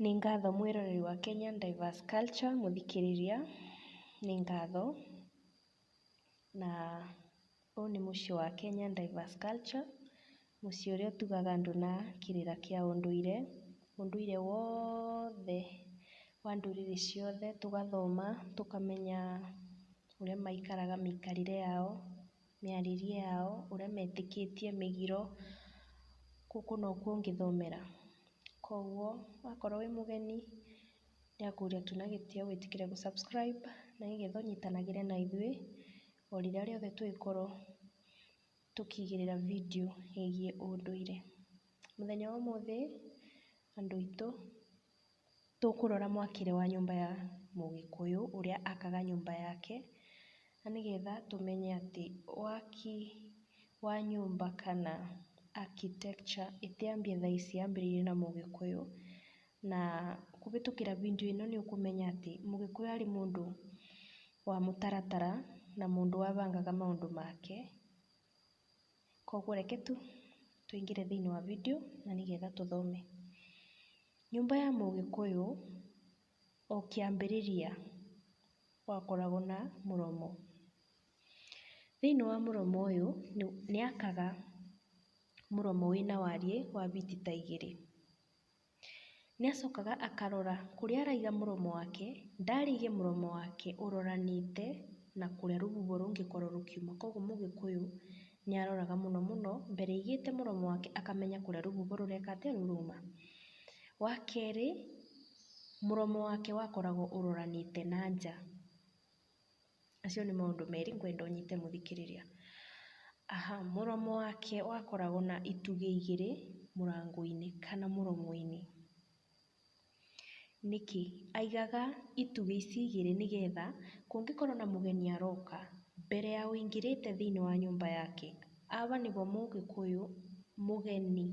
Nĩ ngatho mwĩroreri wa Kenyan Diverse Culture, mũthikĩrĩria, nĩ ngatho, na ũyũ nĩ mũciĩ wa Kenyan Diverse Culture, mũciĩ ũrĩa ũtugaga andũ na kĩrĩra kĩa ũndũire, ũndũire wothe wa ndũrĩrĩ ciothe, tũgathoma, tũkamenya ũrĩa maikaraga mĩikarĩre yao, mĩarĩrie yao ũrĩa metĩkĩtie mĩgiro, gũkũ nokuo ũngĩthomera. Koguo wakorwo wĩ mũgeni nĩakũria tu na gĩtĩo wĩtĩkĩre gũ subscribe na nĩgetha ũnyitanagĩre na ithuĩ o rĩrĩa rĩothe tũngĩkorwo tũkĩigĩrĩra video ĩgiĩ ũndũire. Mũthenya wa ũmũthĩ andũ aitũ. Tũkũrora mwakĩre wa nyũmba ya mũgĩkũyũ ũrĩa akaga nyũmba yake, na nĩgetha tũmenye atĩ waki wa nyũmba kana architecture ĩtĩambia thaa ici yambĩrĩirie na mũgĩkũyũ. Na kũhĩtũkĩra bindiũ ĩno nĩ ũkũmenya atĩ mũgĩkũyũ arĩ mũndũ wa mũtaratara na mũndũ wabangaga maũndũ make. Koguo reke tu tũingĩre thĩinĩ wa video na nĩgetha tũthome. Nyũmba ya mũgĩkũyũ o kĩambĩrĩria gwakoragwo na mũromo. Thĩinĩ wa mũromo ũyũ nĩakaga mũromo wĩna wariĩ wa biti ta igĩrĩ. Nĩacokaga akarora kũrĩa araiga mũromo wake, ndarĩige mũromo wake ũroranĩte na kũrĩa rũhuho rũngĩkorwo rũkiuma. Koguo mũgĩkũyũ nĩaroraga mũno mũno mbere aigĩte mũromo wake akamenya kũrĩa rũhuho rũreka atĩa, rũrũma. Wakerĩ, mũromo wake wakoragwo ũroranĩte na nja. Macio nĩ maũndũ merĩ ngwenda ũnyite mũthikĩrĩria. Mũromo wake wakoragwo na itugĩ igĩrĩ mũrango-inĩ kana mũromo-inĩ. Nĩkĩ? Aigaga itugĩ ici igĩrĩ nĩgetha kũngĩkorwo na mũgeni aroka, mbere ya ũingĩrĩte thĩiniĩ wa nyũmba yake, aba nĩbo mũgĩkũyũ mũgeni.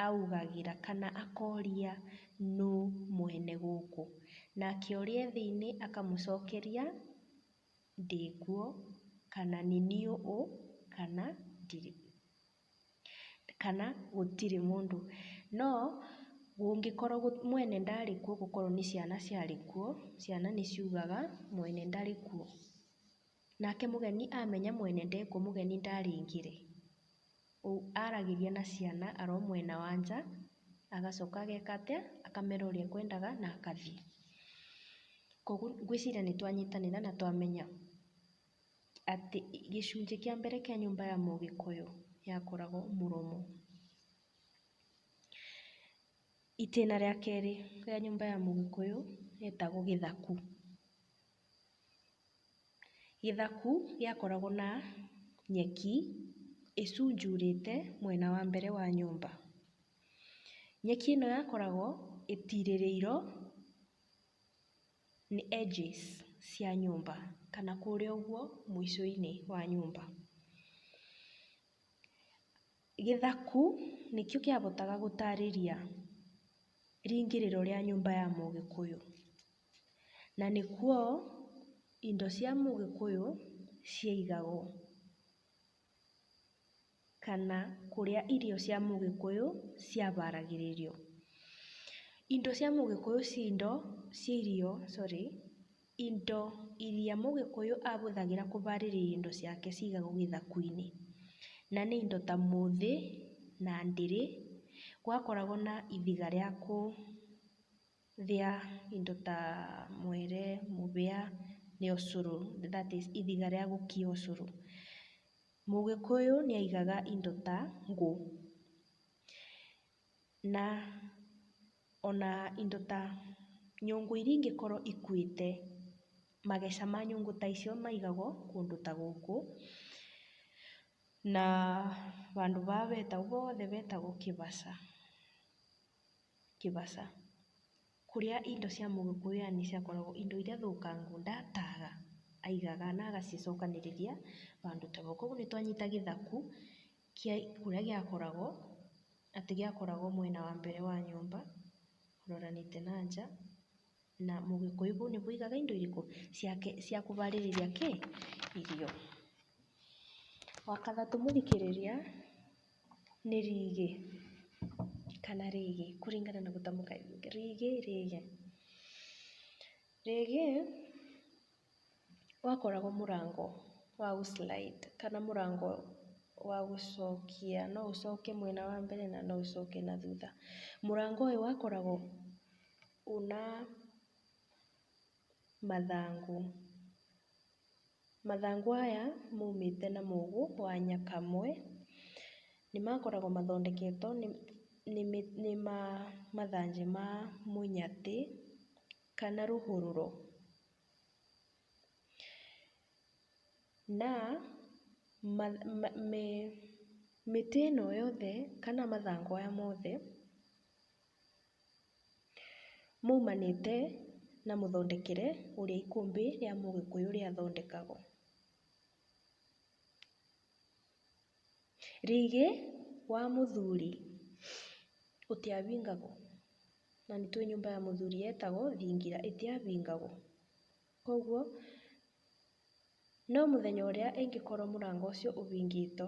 augagĩra kana akoria nũ mwene gũkũ. Nake ũrĩa e thĩinĩ akamũcokeria ndĩ kuo, kana nĩ niĩ ũ, kana ndirĩ, kana gũtirĩ mũndũ. No kũngĩkorwo mwene ndarĩ kuo gũkorwo nĩ ciana ciarĩ kuo, ciana nĩ ciugaga mwene ndarĩ kuo. Nake mũgeni amenya mwene ndekwo mũgeni ndarĩngĩre. Ũu aragĩria na ciana aro mwena wa nja, agacoka ageka atĩa? Akamera ũrĩa ekwendaga na agathiĩ. Koguo ngwĩciria nĩ twanyitanĩra na twamenya atĩ gĩcunjĩ kĩa mbere kĩa nyũmba ya mũgĩkũyũ yakoragwo mũromo. Itĩna rĩa kerĩ rĩa nyũmba ya mũgĩkũyũ rĩtagwo gĩthaku. Gĩthaku gĩakoragwo na nyeki ĩcunjurĩte mwena wa mbere wa nyũmba. Nyeki ĩno yakoragwo ĩtirĩrĩirwo nĩ edges cia nyũmba kana kũrĩa ũguo mũico-inĩ wa nyũmba. Gĩthaku nĩkĩo kĩahotaga gũtarĩria rĩingĩrĩro rĩa nyũmba ya mũgĩkũyũ. Na nĩkuo indo cia mũgĩkũyũ ciaigagwo, kana kũrĩa irio cia mũgĩkũyũ ciaharagĩrĩrio. Indo cia mũgĩkũyũ cia indo, cia irio sorry, indo iria mũgĩkũyũ ahũthagĩra kũharĩria indo ciake cigagwo gĩthaku-inĩ. Na nĩ indo ta mũthĩ na ndĩrĩ, gwakoragwo na ihiga rĩa kũ... thĩa indo ta mwere, mũhĩa, nĩ ũcũrũ, that is ithiga rĩa gũkia ũcũrũ. Mũgĩkũyũ nĩ aigaga indo ta ngũ, na ona indo ta nyũngũ iria ingĩkorwo ikuĩte, mageca ma nyũngũ ta icio maigagwo kũndũ ta gũkũ. Na handũ haha hothe hetagwo kĩbaca. Kĩbaca. Kũrĩa indo cia mũgĩkũyũ yaani ciakoragwo indo iria thũkangũ ndataga aigaga na agacicokanĩrĩria bandũ ta bau. Kuoguo nĩtwanyita gĩthaku kĩa kũrĩa gĩakoragwo atĩ gĩakoragwo mwena wa mbere wa nyũmba ũroranĩte na nja. Na mũgĩkũyũ kũu nĩkuo aigaga indo irĩkũ? Ciake cia kũharĩrĩria kĩ? Irio. Wa gatatũ mũthikĩrĩria nĩ rĩgĩ kana rĩgĩ kũringana na gũtamka rĩgĩ, rĩgĩ. Rĩgĩ Wakoragwo mũrango wa gũ slide kana mũrango wa gũcokia, no ũcoke mwena wa mbere na no ũcoke na thutha. Mũrango ũyũ wakoragwo wĩna mathangũ. Mathangũ aya maumĩte na mũgũ wa nyakamwe. Nĩ makoragwo mathondeketwo nĩ mathanjĩ ma mũnyatĩ kana rũhũrũro. Na mĩtĩ ĩno yothe kana mathangũ aya mothe maumanĩte na mũthondekere ũrĩa ikũmbĩ rĩa mũgĩkũyũ rĩathondekagwo. Rĩgĩ wa mũthuri ũtiabingagwo, na nĩ tũĩ nyũmba ya mũthuri yetagwo thingira ĩtiabingagwo. Koguo no mũthenya ũrĩa ĩngĩkorwo mũrango ũcio ũbingĩtwo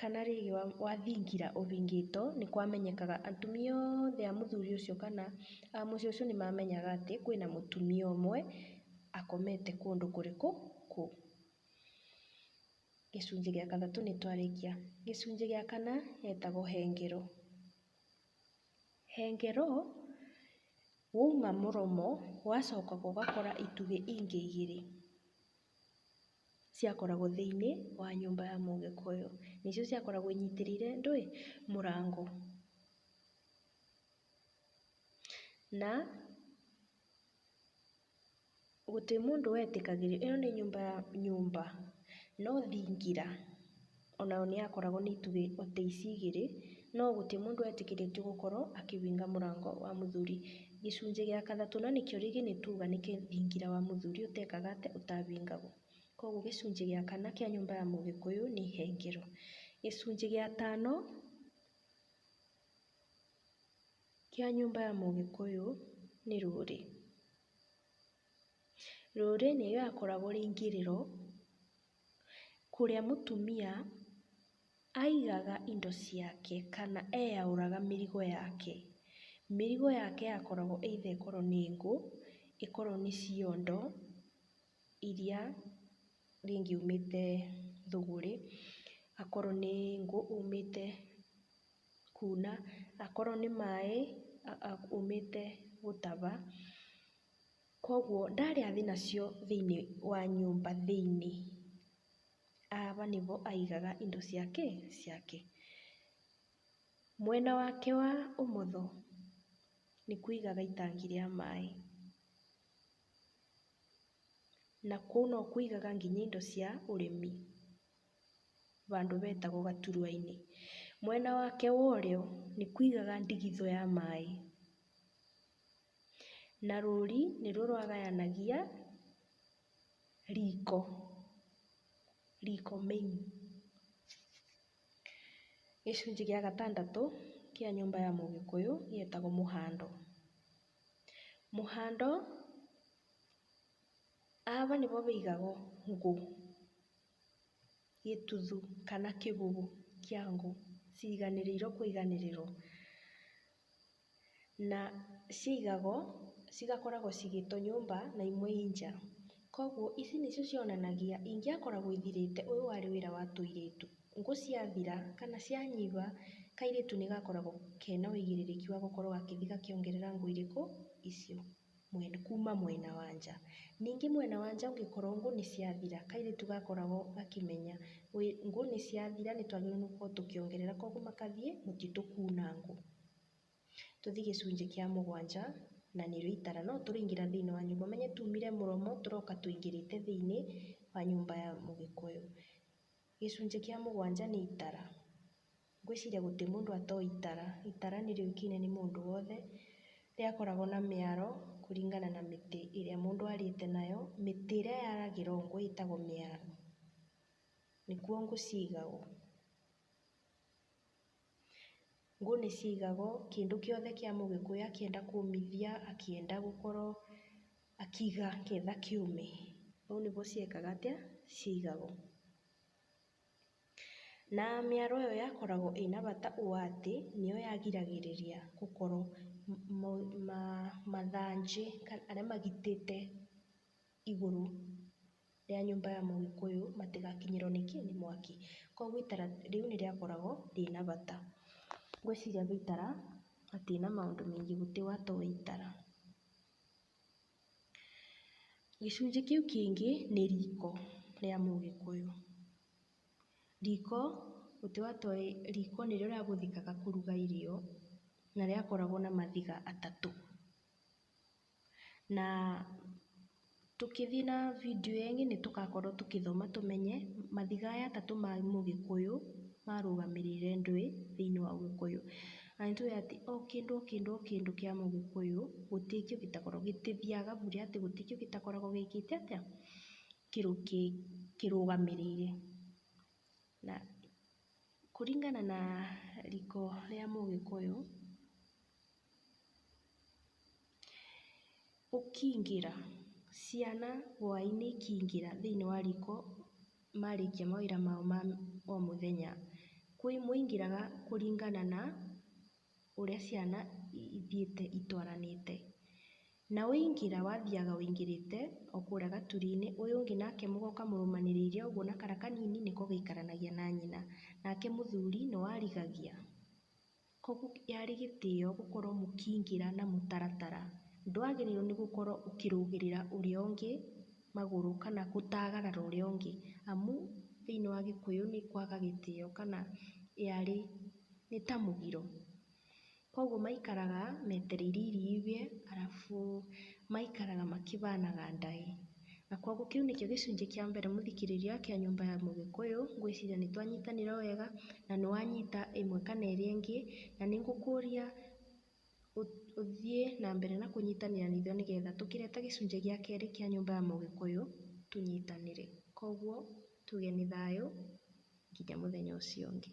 Kana rĩngĩ wathingira ũbingĩto, nĩ kwamenyekaga atumia othe a mũthuri ũcio kana a mũciĩ ũcio nĩ mamenyaga atĩ kwĩna mũtumia ũmwe akomete kũndũ kũrĩkũ kũu. Gĩcunjĩ gĩa gatatũ nĩ twarĩkia. Gĩcunjĩ gĩa kana gĩtagwo hengero. Hengero wauma mũromo wacoka ũgakora itugĩ ingĩ igĩrĩ. ciakoragwo thĩinĩ wa nyũmba ya mũgĩkũyũ. Nĩcio ciakoragwo inyitĩrĩire ndũĩ, mũrango. Na gũtirĩ mũndũ wetĩkagĩrio, ĩno nĩ nyũmba ya nyũmba no thingira. Onayo nĩyakoragwo na itugĩ o ta ici igĩrĩ, no gũtirĩ mũndũ wetĩkĩrĩtio gũkorwo akĩhinga mũrango wa mũthuri. Gĩcunjĩ gĩa kathatũ na nĩkĩo rĩngĩ nĩtuga nĩ kĩthingira wa mũthuri ũtekaga atĩa? Ũtahingagwo. Koguo gĩcunjĩ gĩa kana kĩa nyũmba ya mũgĩkũyũ nĩ ihengero. Gĩcunjĩ gĩa tano kĩa nyũmba ya mũgĩkũyũ nĩ rũrĩ. Rũrĩ nĩyo yakoragwo ĩrĩ ingĩrĩro. kũrĩa mũtumia aigaga indo ciake kana eyaũraga mĩrigo yake. Mĩrigo yake yakoragwo either ĩkorwo nĩ ngũ, ĩkorwo nĩ ciondo iria rĩngĩ aumĩte thũgũrĩ, akorwo nĩ ngũ aumĩte kuna, akorwo nĩ maĩ aumĩte gũtaba. Koguo ndarĩa thĩ nacio thĩiniĩ wa nyũmba thĩiniĩ, aba nĩbo aigaga indo cia kĩ? Ciake. Mwena wake wa ũmotho nĩkuo aigaga itangi rĩa maĩ. Na kũu nokuo aigaga nginya indo cia ũrĩmi, bandũ betagwo gaturwa-inĩ. Mwena wake wa ũrĩo nĩkuo aigaga ndigithũ ya maĩ. Na rũri nĩruo rwagayanagia riko, riko main. Gĩcunjĩ gĩa gatandatũ kĩa nyũmba ya mũgĩkũyũ gĩetagwo mũhando. Mũhando ava nĩvo vĩigagwo ngũ, gĩtuthu kana kĩgugu kĩa ngũ ciiganĩrĩirwo kũiganĩrĩrwo. na cigagwo, cigakoragwo cigĩtwo nyũmba na imwe i nja. Koguo ici nĩcio cionanagia ingĩakoragwo ithirĩte ũyũ warĩ wĩra wa tũirĩtu. Ngũ ciathira kana cianyiba, kairĩtu nĩgakoragwo kena ũigĩrĩrĩki wa gũkorwo gakĩthi gakĩongerera ngũ irĩkũ? Icio. kuuma mwena wa nja. Ningĩ mwena wa nja ũngĩkorwo ngũ nĩ ciathira, kairĩtu gakoragwo gakĩmenya ngũ nĩ ciathira nĩ twagĩrĩirwo nĩ gũkorwo tũkĩongerera koguo magathiĩ mũtitũ kuuna ngũ. Tũthiĩ gĩcunjĩ kĩa mũgwanja na nĩrĩo itara. No tũrĩingĩra thĩinĩ wa nyũmba, ũmenye tuumire mũromo tũroka tũingĩrĩte thĩinĩ wa nyũmba ya mũgĩkũyũ. Gĩcunjĩ kĩa mũgwanja nĩ itara. Ngwĩciria gũtirĩ mũndũ atoĩ itara. Itara nĩ rĩũĩkaine nĩ mũndũ wothe. Rĩakoragwo na mĩaro kũringana na mĩtĩ ĩrĩa mũndũ arĩte nayo. Mĩtĩ ĩrĩa yaragĩra ũũ nguo ĩtagwo mĩara. Nĩkuo ngũ ciigagwo. Ngũ nĩ ciigagwo, kĩndũ kĩothe kĩa mũgĩkũyũ akĩenda kũũmithia, akĩenda gũkorwo akĩiga akĩenda kĩũme, ũũ nĩguo ciekaga atĩa? Ciaigagwo. Na mĩaro ĩyo yakoragwo ĩna bata ũũ atĩ, nĩyo yagiragĩrĩria gũkorwo mathanjĩ arĩa magitĩte igũrũ rĩa nyũmba ya mũgĩkũyũ matigakinyĩrwo nĩ kĩ? Nĩ mwaki. Kogwo itara rĩu nĩ rĩakoragwo rĩna bata. Ngwĩciria itara hatirĩ na maũndũ maingĩ gũtiwa to itara. Gĩcunjĩ kĩu kĩngĩ nĩ riko rĩa mũgĩkũyũ. Riko, mũtĩ wa toĩ, riko nĩrĩo rĩahũthĩkaga kũruga irio na rĩakoragwo na maviga atatũ. Na tũkĩthiĩ na video ĩngĩ nĩtũgakorwo tũkĩthoma tũmenye maviga aya atatũ ma mũgĩkũyũ marũgamĩrĩire ndwĩ thĩiniĩ wa ũgĩkũyũ. Na nĩ tũĩ atĩ o kĩndũ o kĩndũ o kĩndũ kĩa mũgĩkũyũ gũtikĩo gĩtakoragwo gĩtithiaga bure atĩ gũtikĩo gĩtakoragwo gĩkĩte atĩa kĩrũ kĩrũgamĩrĩire. Na kũringana na riko rĩa mũgĩkũyũ... Ũkingĩra, ciana hwainĩ ikingĩra thĩinĩ wa riko marĩkia mawĩra mao ma o mũthenya, kwĩ mũingĩraga kũringana na ũrĩa ciana ithiĩte itwaranĩte. Na waingĩra wathiaga wĩingĩrĩte o kũrĩa gaturi-inĩ, ũyũ ũngĩ nake mũgoka mũrũmanĩrĩire ũguo na kara kanini nĩko gaikaranagia na nyina, nake mũthuri nĩ warigagia. Koguo yarĩ gĩtĩo gũkorwo mũkĩingĩra na mũtaratara. Ndwagĩrĩirwo nĩ gũkorwo ũkĩrũgĩrĩra ũrĩa ũngĩ magũrũ kana gũtagarara ũrĩa ũngĩ, amu thĩiniĩ wa gĩkũyũ nĩ kwaga gĩtĩo kana yarĩ nĩ ta mũgiro. Koguo maikaraga metereire iria iuge arabu maikaraga makĩhanaga ndaĩ. Na kwoguo kĩu nĩkĩo gĩcunjĩ kĩa mbere mũthikĩrĩria kĩa nyũmba ya mũgĩkũyũ, ngwĩciria nĩ twanyitanĩra wega na nĩ wanyita ĩmwe kana ĩrĩa ĩngĩ, na nĩ ngũkũria ũthiĩ na mbere na kũnyitanĩra na ithuĩ nĩgetha tũkĩreta gĩcunjĩ gĩa kerĩ kĩa nyũmba ya mũgĩkũyũ tũnyitanĩre. Kwoguo tuge nĩ thayũ nginya mũthenya ũcio ũngĩ.